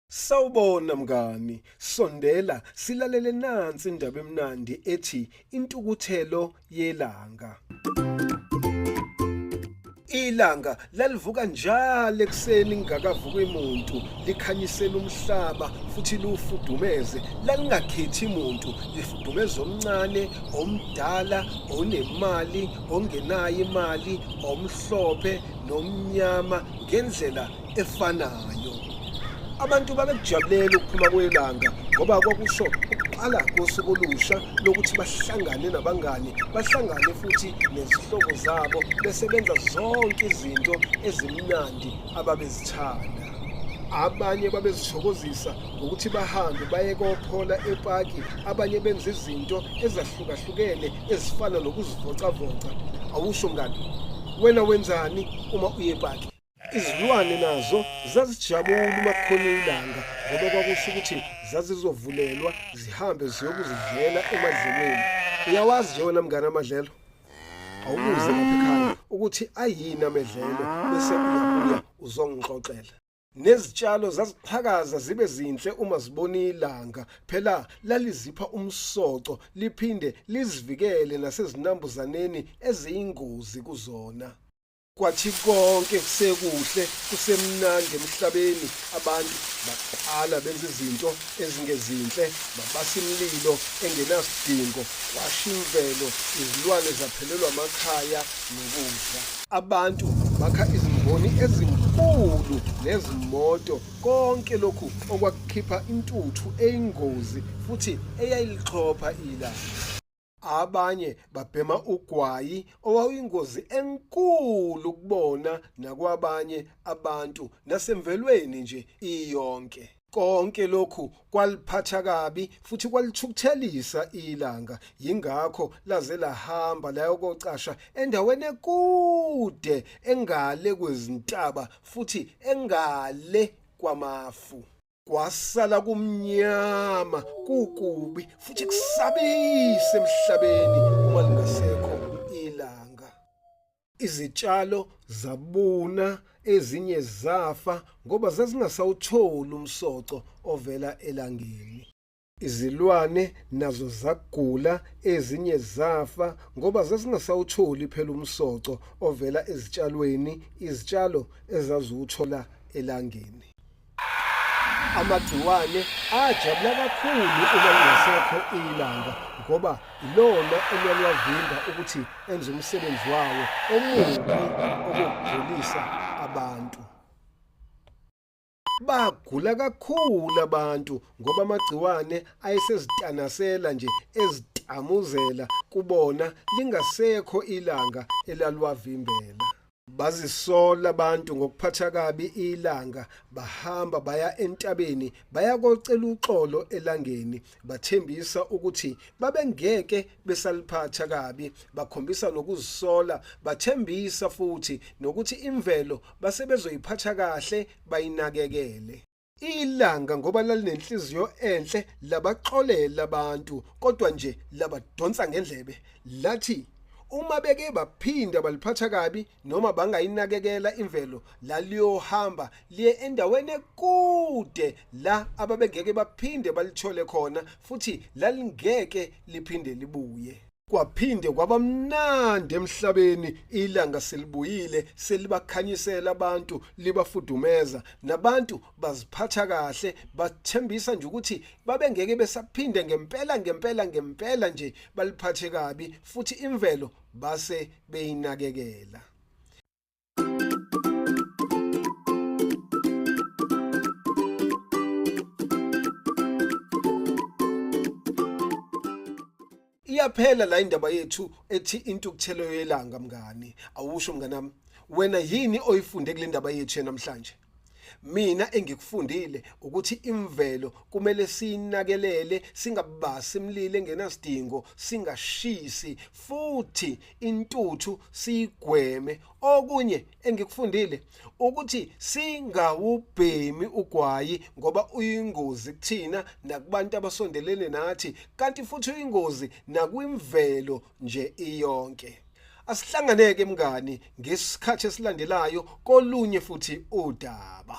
Sawubona mngani, sondela silalele nansi indaba emnandi ethi intukuthelo yelanga. Ilanga lalivuka njalo ekuseni ngingakavuka imuntu likhanyisela umhlaba futhi liwufudumeze lalingakhethi muntu lifudumeza omncane omdala onemali ongenayo imali omhlophe nomnyama ngendlela efanayo abantu babekujabulela ukuphuma kwelanga ngoba kwakusho ukuqala kosuku olusha lokuthi bahlangane nabangani bahlangane futhi nezihlobo zabo besebenza zonke izinto ezimnandi ababezithanda abanye babezithokozisa ngokuthi bahambe baye kophola epaki abanye benza izinto ezahlukahlukene ezifana nokuzivocavoca awusho mngani wena wenzani uma uye epaki izilwane nazo zazijabula uma kukhona ilanga ngoba kwakusho ukuthi zazizovulelwa zihambe ziyokuzidlela emadlelweni uyawazi nje wena mngane amadlelo awubuze lapha ekhaya ukuthi ayini amedlelo bese uyabuya uzongixoxela Nezitshalo zaziqhakaza zibe zinhle uma zibona ilanga, phela lalizipha umsoco liphinde lizivikele nasezinambuzaneni eziyingozi kuzona. Kwathi konke kusekuhle kusemnandi emhlabeni abantu baqala benza izinto ezingezinhle babasa imlilo engenasidingo kwasha imvelo izilwane zaphelelwa amakhaya nokudla Abantu bakha izimboni ezinkulu nezimoto, konke lokhu okwakukhipha intuthu eyingozi futhi eyayilixhopha ilanga. Abanye babhema ugwayi owawuyingozi enkulu kubona nakwabanye abantu nasemvelweni nje iyonke. Konke lokhu kwaliphatha kabi futhi kwalithukuthelisa ilanga yingakho laze lahamba layokocasha endaweni ekude engale kwezintaba futhi engale kwamafu kwasala kumnyama kukubi futhi kusabise emhlabeni uma lingasekho izitshalo zabuna ezinye zafa ngoba zazingasawutholi umsoco ovela elangeni izilwane nazo zagula ezinye zafa ngoba zazingasawutholi phela umsoco ovela ezitshalweni izitshalo ezaziwuthola elangeni amagciwane ajabula kakhulu uma lingasekho ilanga ngoba ilona eliyalwavimba ukuthi enze umsebenzi wawo omubi okugulisa abantu bagula kakhulu abantu ngoba amagciwane ayesezitanasela nje ezitamuzela kubona lingasekho ilanga elalwavimbela Bazisola abantu ngokuphatha kabi ilanga, bahamba baya entabeni, baya kocela uxolo elangeni, bathembisa ukuthi babengeke besaliphatha kabi, bakhombisa nokuzisola, bathembisa futhi nokuthi imvelo basebezoyiphatha kahle, bayinakekele. Ilanga ngoba lalinenhliziyo enhle labaxolela abantu kodwa nje labadonsa ngendlebe lathi uma beke baphinda baliphatha kabi noma bangayinakekela imvelo laliyohamba liye endaweni ekude la ababengeke baphinde balithole khona futhi lalingeke liphinde libuye Kwaphinde kwabamnandi emhlabeni ilanga selibuyile selibakhanyisela abantu libafudumeza nabantu baziphatha kahle bathembisa nje ukuthi babengeke besaphinde ngempela ngempela ngempela nje baliphathe kabi futhi imvelo base beyinakekela iyaphela la indaba yethu ethi intukuthelo yelanga mngani awusho mnganami wena yini oyifunde kule ndaba yethu namhlanje mina engikufundile ukuthi imvelo kumele sinakelele singabasi imlilo engenasidingo singashisi futhi intuthu sigweme okunye engikufundile ukuthi singawubhemi ugwayi ngoba uyingozi kuthina nakubantu abasondelene nathi kanti futhi uyingozi nakwimvelo nje iyonke asihlanganeke mngani ngesikhathi esilandelayo kolunye futhi udaba